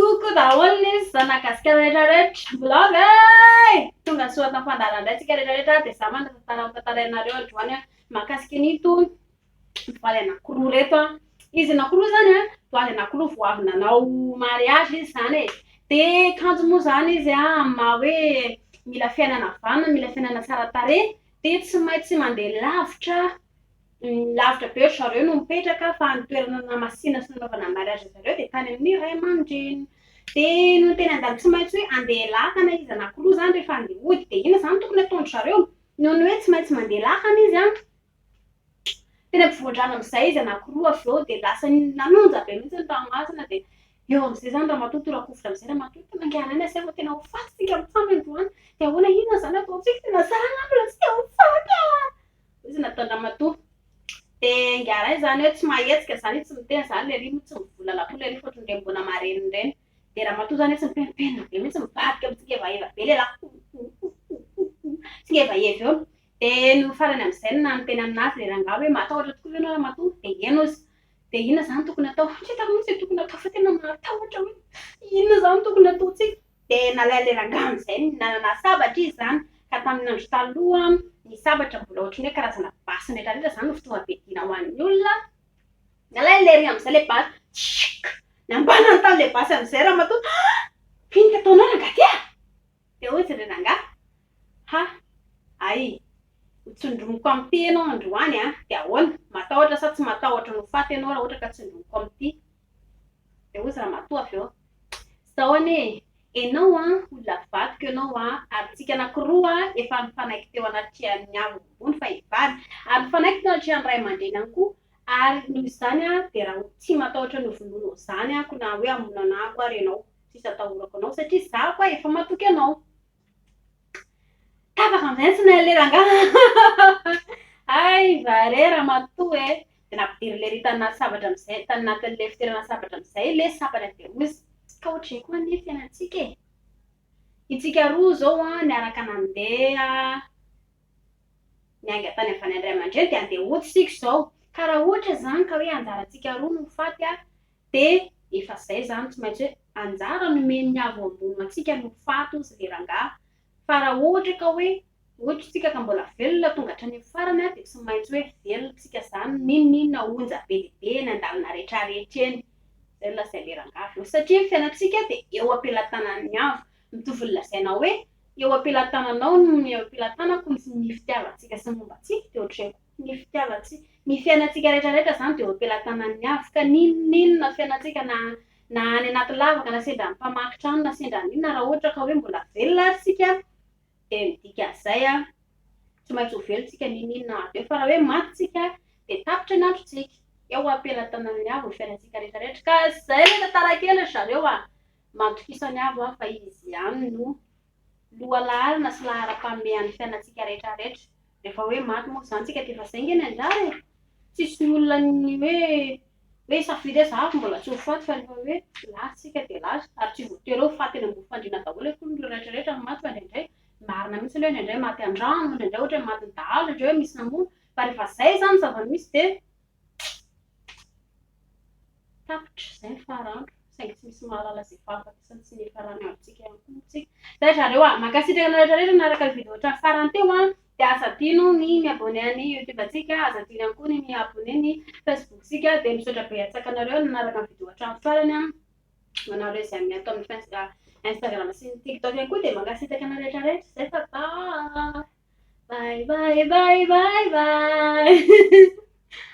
Coucou daholo ny zanagasikara rehetra rehetra mbola avy eh! Tonga soa tam fandaharan dray tsika rehetra rehetra de za manatantara ho tantarainareo androany an mahakasika an'ito mpivady anakiroa reto an izy anakiroa zany an mpivady anakiroa vao avy nanao mariage izy zany e de kanjo moa zany izy an amin'ny maha hoe mila fiainana vanona mila fiainana tsara tarehy de tsy maintsy mandeha lavitra Lavitra be ry zareo no mipetraka fa ny toerana namasina sy nanaovana mariazy zareo dia tany amin'ny ray aman-dreny. Dia nony teny an-dalana tsy maintsy hoe andeha lakana izy anankiroa izany rehefa andeha hody dia inona izany tokony ataon-dry zareo? Nony hoe tsy maintsy mandeha lakana izy an! Teny ampovoan-drano amin'izay izy anankiroa avy eo dia lasa nanonja be mihitsy ny ranomasina dia eo amin'izay izany ramatoa tora-kovitra amin'izay ramatoa tena ankehianana sy efa tena ho faty isika mitsam androany dia ahoana inona izany ataontsika tena zara angamba ilay tsy te ho faty an! Izy nataondramatoa. Dia ingahy izany hoe tsy mahetsika izany izy tsy miteny izany ilay ry moa tsy mivolana koa ilay ry fa ohatran'ny ireny mbola marenina ireny. Dia ramatoa izany hoe tsy mipenopenona be mihitsy mivadika mitsingevaheva be lehilahy hohohohohoho tsingevaheva eo. Dia no farany amin'izay no nanoteny aminazy ilay rangahy hoe matahotra tokoa ve ianao ramatoa? Dia eny ozy. Dia inona izany tokony atao? Tsy hitako mihitsy ny tokony atao fa tena mahatahotra hoe inona izany tokony ataontsika? Dia nalain' ilay rangahy amin' izay ny nanana sabatra izy izany, ka tamin' ny Andro Taloha ny sabatra mbola ohatran' ny hoe karazana basy miretraretra izany no fitaovam-piadiana ho an' ny olona, nalain' ilay ry amin' izay ilay basy, tschikk, nambanany tamin' ilay basy amin' izay ramatoa, ha! ino ka ataonao rangahy ty a? Dia hoy izy ry rangahy, ha! ay, ho tsindromiko amin' ity ianao androany an! dia ahoana, matahotra sa tsy matahotra ny ho faty ianao raha ohatra ka tsindromiko amin' ity? Dia hozy ramatoa avy eo, izao anie e, enao an, olona vadiko enao an, ary tsika anakiroa efa nifanaiky teo anatrehan'ny hazo ambony fa hivady, ary nifanaiky teo anatrehan'ny ray aman-dreny ihany koa, ary noho izany an, dia raha ho tsy matahotra ny ho vonoinao izany aho, ko na hoe hamono anah koa ary enao, tsisy atahorako anao, satria za koa efa matoky anao. Tapaka amin'izay ny tsinain'ilay rangahy hay va re ramatoa e! dia nampidirin'ilay ery tany anaty sabatra amin'izay tany anatin'ilay fitoerana sabatra amin'izay ilay sabatra dia hoy izy, ka ohatran'izay koa anie ny fiainantsika e! Itsika roa izao an, niaraka nandeha niainga tany avy any an-dRay aman-dreny dia handeha hody isika izao, ka raha ohatra izany ka hoe anjarantsika roa no ho faty an, Dia efa zay zany tsy maintsy hoe anjara nomen'ny avo ambony ho antsika no faty hozy le rangaha fa raha ohatra ka hoe ohatry tsika ka mbola velona tonga hatranin'ny farany a dia tsy maintsy hoe velona tsika zany ninoninona onja be dia be eny andalana rehetra rehetra eny zay nolazain le rangaha avy eo satria ny fiainantsika dia eo ampelatanan'ny avo mitovy ny lazaina hoe eo ampelatananao no eo ampelatanako ny fitiavantsika sy ny momba antsika dia ohatr'izay koa. Ny fitiavantsika. Ny fiainantsika rehetrarehetra izany dia eo am-pelatanan'ny Avy, ka n'inon'inona fiainantsika na na any anaty lavaka na sendra mpamaky trano na sendra an'inona na raha ohatra ka hoe mbola velona ary isika dia midika an'izay an, tsy maintsy ho velona isika n'inon'inona avy eo, fa raha hoe maty isika dia tapitra ny androntsika, eo am-pelatanan'ny Avo ny fiainantsika rehetrarehetra, ka izay ilay tantara kely ry zareo an, matokisan'ny Avo an fa Izy ihany no. lohalaharana sy laharam-panome an'ny fiainantsika rehetra rehetra. Rehefa hoe maty moa izany isika dia efa izay nge ny anjara e! Tsisy ny olona ny hoe hoe hisafidy hoe za mbola tsy ho faty fa rehefa hoe lasa isika dia lasa ary tsy voatery hoe ho faty eny ambony fandriana daholo akory ireo rehetra rehetra no maty fa indraindray marina mihitsy aloha hoe indraindray maty an-drano, indraindray ohatra hoe matin'ny dahalo, indraindray hoe misy namono fa rehefa izay izany ny zava-misy dia Tapitra izay ny faran'andro saingy tsy misy mahalala izay fahafatesany sy ny hifaran'ny androntsika ihany koa moa isika. Izay ry zareo a! Mankasitraka anareo rehetra rehetra nanaraka ny video hatramin'ny farany teo a! Dia aza adino ny mi-abonné an'ny youtube antsika, aza adino ihany koa ny mi-abonné ny facebook-tsika. Dia misaotra betsaka anareo nanaraka ny video hatramin'ny farany a! Ho anareo izay miato amin'ny face instagram sy ny tiktok ihany koa dia mankasitraka anareo rehetra rehetra izay fa bye! Bye bye bye bye bye!